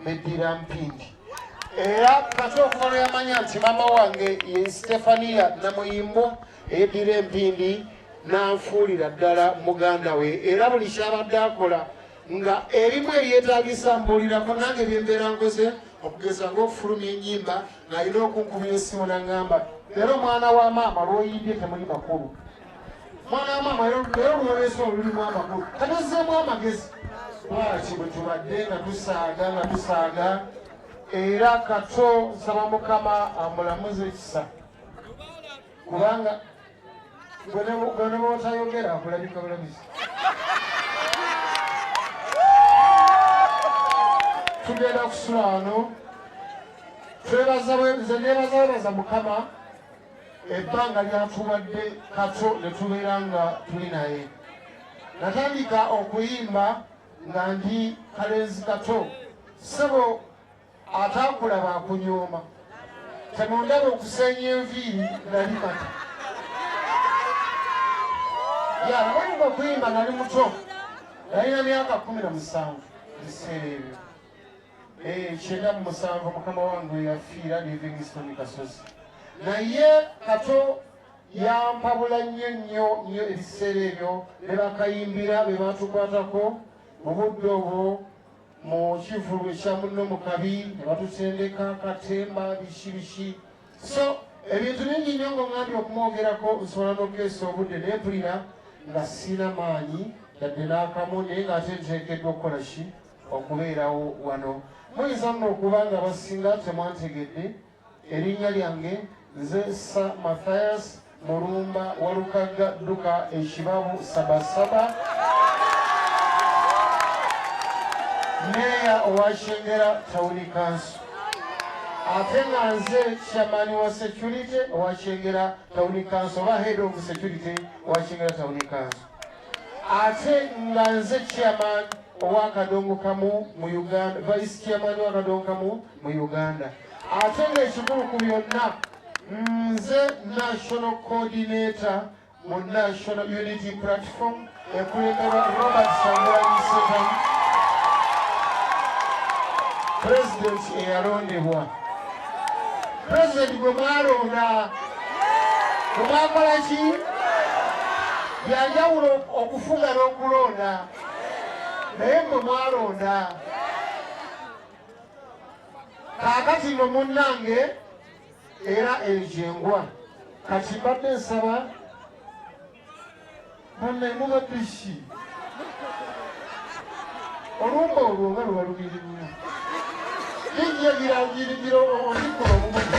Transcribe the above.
Medira Mpindi era kati okuva lwe yamanya nti maama wange ye Stefania Namuyimbwa eyeddira Empindi n'anfuulira ddala muganda we era buli kyabadde akola nga ebimu ebyetaagisa mbuulirako nange byembeera nkoze okugeza ng'okufulumya ennyimba ng'alina okunkubira essimu nangamba leero omwana wa maama lwoyimbye temuli makulu mwana wa maama leero lwoleesa olulimu amakulu katozzeemu amagezi bwaki bwe tubadde nga tusaaga nga tusaaga era kato nsaba mukama amulamuze ekisa kubanga Gwene bwotayogera akulabika bulabizi. Tugenda kusula wano. Twebaza nze nebaza webaza Mukama ebbanga lyatuwadde kato ne tubeera nga tuli naye. Natandika okuyimba nga ndi kalenzi kato. Sebo ataakulaba akunyooma temundaba okuseenya enviiri nali kata yalabayumba kuyimba nali muto nalina myaka kumi na musanvu biseera ebyo eh, kyenda mu musanvu mukama wange yafiira livingston kasozi naye kato yampabula nnyo nnyo nnyo ebiseera ebyo bebakayimbira bebatukwatako mu budde obwo mu kivulu ekya munno mu kabi ne batusendeka katemba biki biki so ebintu bingi nnyo ng'oŋambye okumwogerako nsobola n'okukeesa obudde naye mpulira nga siina maanyi yadde n'akamu naye ng'ate nteekeddwa okukola ki okubeerawo wano muyinza nno okuba nga basinga temwantegedde Erinnya lyange nze Sir Mathias Mulumba Walukagga Dduka Ekibabu Sabasaba meeya owa Kyengera tawuni kanso ate nga nze chairman wa security owa Kyengera tawuni kanso oba head of security owa Kyengera tawuni kanso ate nga nze chairman owa kadongo kamu mu Uganda vice chairman wa kadongo kamu mu Uganda ate ng'ekikulu ku byonna nze national coordinator mu national unity platform ekulemberwa robert sangulanyi setan pulezidenti eyalondebwa pulezidenti gwe mwalonda gwe mwakola ki byanjawulo okufuga n'okulonda naye gwe mwalonda kaakati no munnange era enjengwa kati mbadde nsaba munne muba biki olumba olwo nga lubalumiri nnyo yingiye girangirigiro omukolo omubuga